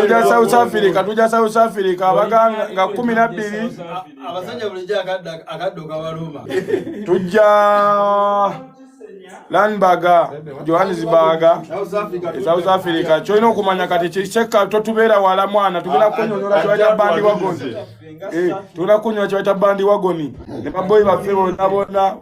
tuja south africa tuja south africa abaga nga kumi nabbiri tujja lanbaga johannesburga south africa kyolina okumanya kati kisekka totubeera wala mwana tugenda kunyonyola kibaita bandi wagoni eh, tugenda kunyonyola kibaita bandi wagoni ne baboyi baffe bona bona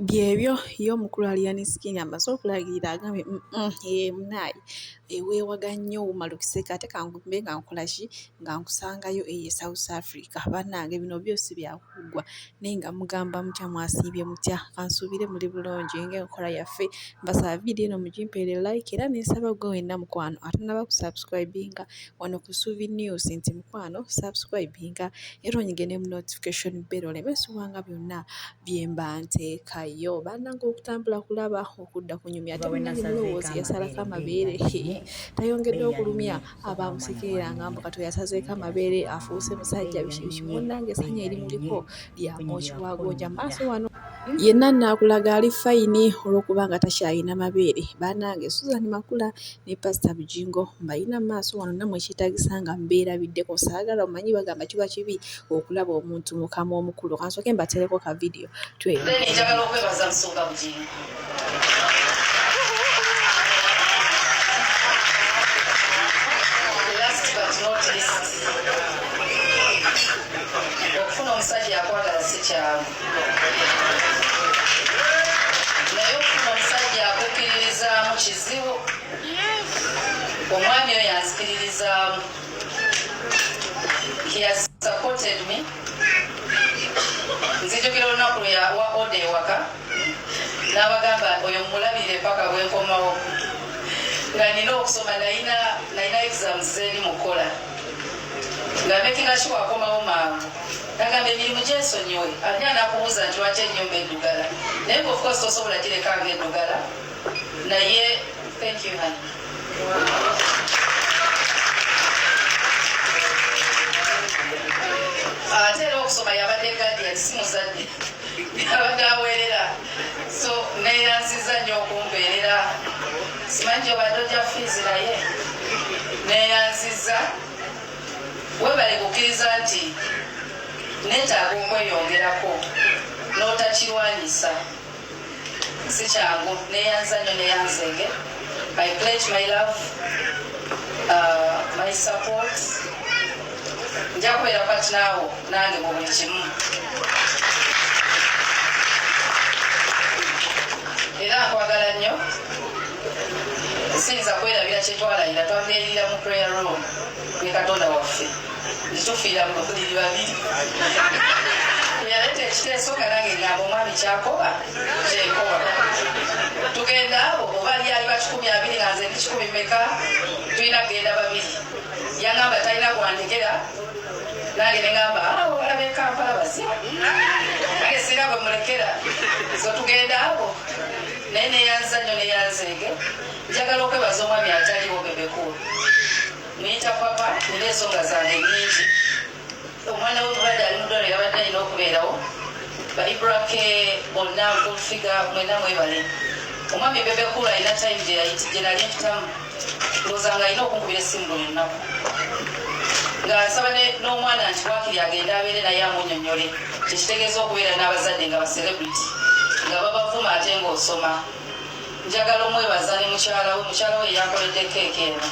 byebyo ye omukulu aliyani sikini amaze okulagirira agambye mm, mm, eh, munaayi eweewaga eh, nnyo wuma lukiseka ate kangumbe nga nkolaki nga nkusangayo eye south africa banange bino byosi byakuggwa naye nga mugamba mutya mwasiibye mutya kansuubire muli bulungi ngaenkola yaffe mbasaba vidiyo eno mugimpeere like era nensaba gwe wenna mukwano atanaba kusubscribinga wano ku suvi news nti mukwano subscribinga era onyige ne mu notification bell oleme subwanga byonna bye mba nteekayo bannange okutambula kulaba okudda kunyumya ate munnange mulowoozi yasalako amabeere tayongedde okulumya abaamusekerera nga mbu kato yasazeeko amabeere afuuse musajja bikibiki munnange essanyu erimuliko lya mwoki wa gonja maaso wano yenna naakulaga ali fayini olw'okuba nga takyalina mabeere bannange suzan makula ne Pasita Bugingo mbalina mu maaso wano nammwe ekyetaagisa nga mbeerabiddeko saagala omanyi bagamba kiba kibi okulaba omuntu mu kamwa omukulu kansooke mbateereko ka vidiyo twe njagala okwebaza Musumba Bugingo naye okufuna omusajja akukiririzaamu kizibu omwami oyo anzikiririzaamu supported me nzijukira olunaku lweyawa oda ewaka n'abagamba oyo mulabire paka bwenkomawo nga nina okusoma nalina exams zeri mukukola nga makinga sure akomawo mangu Nagamba emirimu gyesonyiwe ani anakubuuza nti lwaki enyumba edugala naye nga of course tosobola gireka nga edugala naye thank you honey ate era okusoma yabadde guardian si muzadde yabadde aweerera so neyanziza nnyo okumbeerera simanyi gyobadde ojja fiizi naye neyanziza Webale kukiriza nti netaaga okweyongerako notakirwanyisa sikyangu neyanza nyo neyanzenge I pledge my love uh, my support njakubeera kati naawo nange mu buli kimu era nkwagala nnyo siyinza kwerabira kyetwalayira twabeerira mu prayer room ne katonda waffe kitufiira mu buliri babiri yaleeta ekiteeso nga nange ngamba omwami kyakoba kyekoba tugenda abo oba lyali bakikumi abiri nga nze ndikikumi meka tulina kugenda babiri yangamba talina kwandekera nange nengamba ah, olabe kampala basi nange sirina bwe mulekera so tugenda abo naye neyanza nyo neyanzeege Njagala okwebaza omwami ataliwo Bebe Cool. Muyita papa nina ensonga zange nnyingi. Omwana we mulwadde ali mu ddwaliro yabadde alina okubeerawo. Ba Ibrake bonna nkulfiga mwena mwebale. Omwami Bebe Cool alina time gye yayiti gye nali mpitamu. Ndowooza nga alina okunkubira essimu buli lunaku. Nga nsaba ne- n'omwana nti waakiri agende abeere naye amunyonnyole kye kitegeeza okubeera n'abazadde nga ba celebrity nga babavuma ate ng'osoma. njagala omwebaza ne mukyala we mukyala we yakoledde keeka eno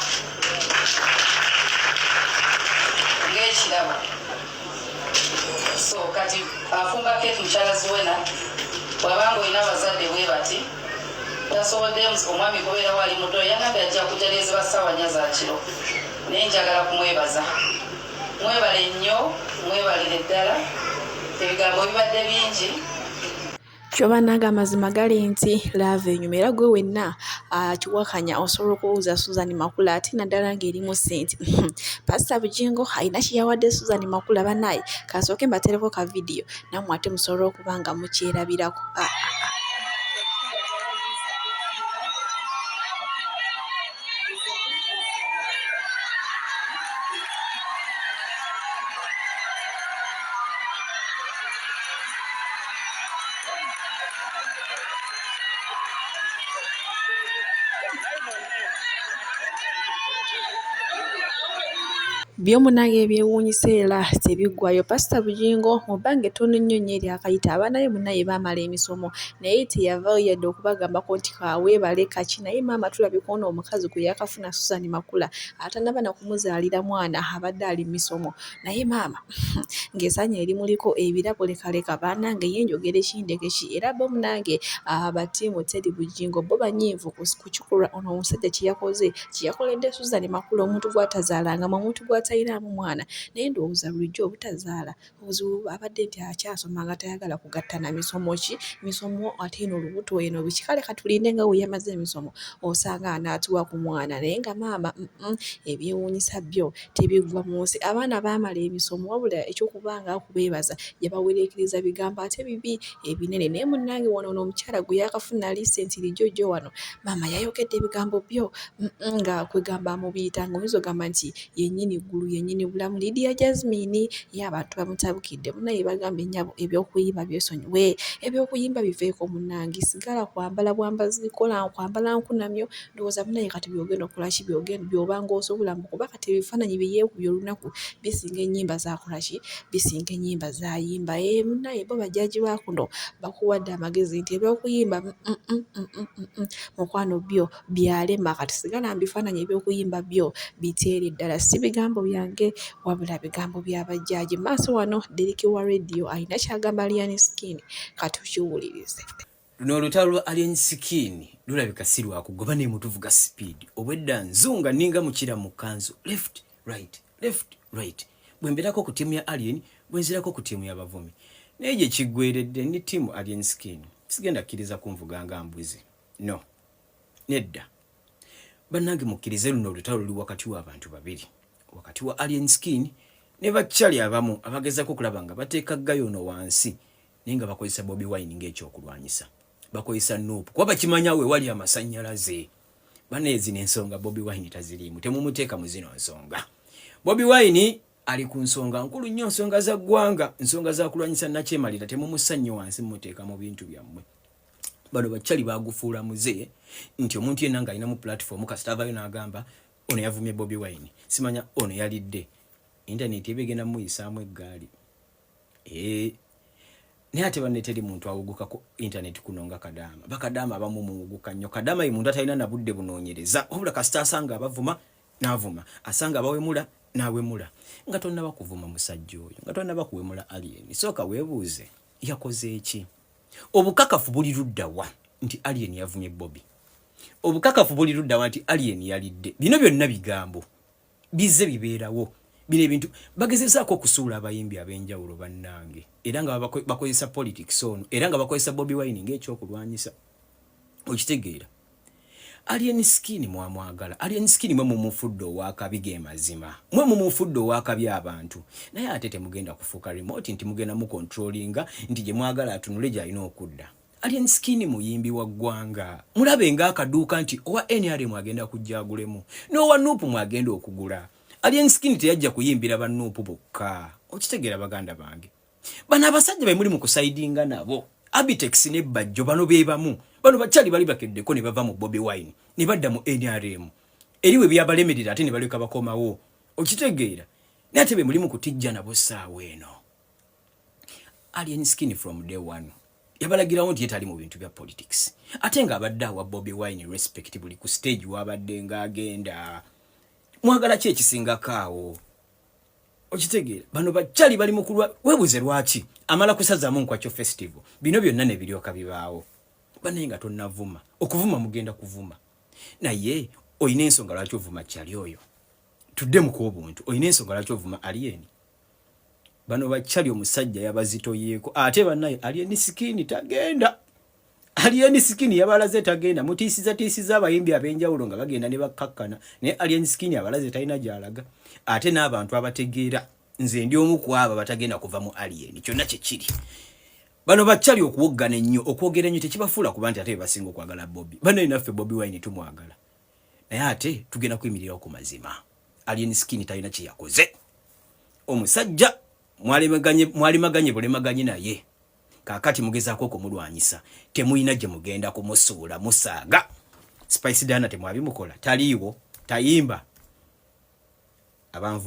ng'ekirabo so kati afumba keeki mukyala ziwena bwabanga olina abazadde bwe bati tasobodde omwami kubeera wali muto yanabe ajja kujalezi basawanya za kiro naye njagala kumwebaza mwebale nnyo mwebalire ddala ebigambo bibadde bingi kyo bannange amazima gali nti laava enyuma era gwe wenna akiwakanya ah, osobola okubuuza susan makula ate naddala ng'erimu sente pasita bujingo alina kyeyawadde susan makula banaye kasooke mbatereko ka vidiyo nammwe ate musobola okuba nga mukyerabirako ah, ah, byo munange ebyewuunyisa era tebiggwayo pasita bujingo mu bbanga ettono ennyo nnyo eryakayita abaana be munnaye baamala emisomo naye teyavaayo yadde okubagambako nti kaweebale kaki naye maama tulabye ku ono omukazi gwe yakafuna susan makula atanaba nakumuzaalira mwana abadde ali misomo naye maama ng'esaanya erimuliko ebirabo lekaleka banange ye njogera ekindekeki era bo munange abatiimu ah, teri bujingo bo banyiivu kukikulwa ono omusajja kyeyakoze kyeyakoledde susan makula omuntu gwatazaalanga mu omuntu gwatayiraamu mwana naye ndowooza bulijjo obutazaala Obuzibu abadde nti akyasoma nga tayagala kugatta na misomo ki misomo ate eno olubuto eno biki kale ka tulinde nga bwe yamaze emisomo osanga anaatuwa ku mwana naye nga maama ebyewuunyisa byo tebiggwa mu nsi abaana baamala emisomo wabula eky'okuba nga kubeebaza yabawereekereza bigambo ate bibi ebinene naye munnange wano ono omukyala gwe yaakafuna ali senti lijjo jjo wano maama yayogedde ebigambo byo nga kwegamba amubiyita ng'oyinza ogamba nti yennyini ggulu yennyini bulamu Lydia Jazmine ye abantu bamutabukidde munaye bagambye nyabo ebyokuyiba byesonyiwe ebyokuyimba biveeko munange sigala kwambala bwambazi kola kwambala nkunamyo ndowooza munaye kati byogenda okolaki byogenda byobanga osobola mbu kuba kati ebifaananyi byeyekubye olunaku bisinga ennyimba zakolaki bisinga ennyimba zayimba e eh, munaye bo bajaji bakuno bakuwadde amagezi nti ebyokuyimba mm, mm, mm, mukwano byo byalema kati sigala mbifaananyi eby'okuyimba byo biteere ddala si bigambo byange wabula bigambo bya bajjaaji maaso wano deriki wa rediyo alina kyagamba aliyani sikini katukiwulirize luno olutalo lwa alien skin lulabika si lwakugoba naye mutuvuga sipiidi obwedda nzunga ninga mukira mu kanzu left right left right bwe mbeerako ku ttiimu ya alien bwe nzirako ku ttiimu y'abavuumi naye gye kiggweredde ne ttiimu alien skin sigenda kkiriza kunvuga nga mbuzi no nedda bannange mukkirize luno olutalo luli wakati w'abantu babiri wakati wa alien skin ne bakyali abamu abagezako okulaba nga bateeka gayo ono wansi naye nga bakozesa bobi wine ng'ekyokulwanyisa bakozesa nuupu kuba bakimanya we wali amasannyalaze baneezi n'ensonga bobi wine taziriimu temumuteeka mu zino nsonga bobi wine ali ku nsonga nkulu nnyo nsonga za ggwanga nsonga za kulwanyisa nakyemalira temumusannyo wansi mumuteeka mu bintu byammwe bano bacali bagufuula muze nti omuntu yenna nga alinamu platform kasita avayo n'agamba ono yavumye bobi wine simanya ono yalidde intaneti eba egenda muyisaamu eggaali eh, naye ate banne teri muntu awuguka ku intaneti kuno nga kadaama bakadaama abamu muwuguka nnyo kadaama ye muntu atalina nabudde bunoonyereza wabula kasita asanga abavuma n'avuma asanga abawemula n'awemula nga tonnaba kuvuma musajja oyo nga tonnaba kuwemula aliyeni sooka weebuuze yakoze eki obukakafu buli luddawa nti alien yavumye bobi obukakafu buli luddawa nti alien yalidde bino byonna bigambo bizze bibeerawo bino ebintu bagezezaako okusuula abayimbi ab'enjawulo bannange era nga bakozesa politics ono era nga bakozesa bobi wine ngaekyokulwanyisa okitegeera Alien skin mwamwagala. Alien skin mwe mumufudde owakabi ge mazima. Mwe mumufudde owakabi abantu. Naye ate temugenda kufuuka remote nti mugenda mu controllinga nti gye mwagala atunule gy'alina okudda. Alien skin muyimbi wa ggwanga. Mulabe nga akaduuka nti owa NRM agenda kujja agulemu. N'owa Nup mwagenda okugula. Alien skin teyajja kuyimbira ba Nup bokka. Okitegera baganda bange. bano abasajja bemuli mu kusaidinga nabo abitex ne bajjo bano bebamu bano bakyali bali bakeddeko ne bava mu bobi wine ne badda mu nrm eriwe byabalemerera ate ne baleka bakomawo okitegeera naye ate bemuli mu kutijja nabo saawa eno alien skin from day one yabalagirawo nti yetali mu bintu bya politics ate nga abadde awa bobi wine respect buli ku stage wabadde nga agenda mwagala ki ekisingako awo okitegeera bano bacali bali mukulwa webuze lwaki amala kusazamu nkwakyo festival bino byonna nebiryoka bibaawo banaye nga tonavuma okuvuma mugenda kuvuma naye olina ensonga lwaki ovuma cali oyo tudde mukwobuntu olina ensonga lwaki ovuma alieni bano bacali omusajja yabazitoyeeko ate banaye alieni sikini tagenda Alien Skin yabalaze tagenda mutiisiza tiisiza abayimbi ab'enjawulo nga bagenda ne bakkakkana naye Alien Skin abalaze talina gy'alaga ate n'abantu abategeera nze ndi omu ku abo abatagenda kuva mu Alien kyonna kye kiri bano bakyali okuwoggana ennyo okwogera ennyo tekibafuula kuba nti ate be basinga okwagala Bobi bano naffe Bobi Wine tumwagala naye ate tugenda kuyimirirawo ku mazima Alien Skin talina kye yakoze omusajja mwalimaganye bulimaganye naye kakati mugezaako okumulwanyisa temulina gye mugenda kumusuula musaaga spice dana temwabimukola taliiwo tayimba abanvu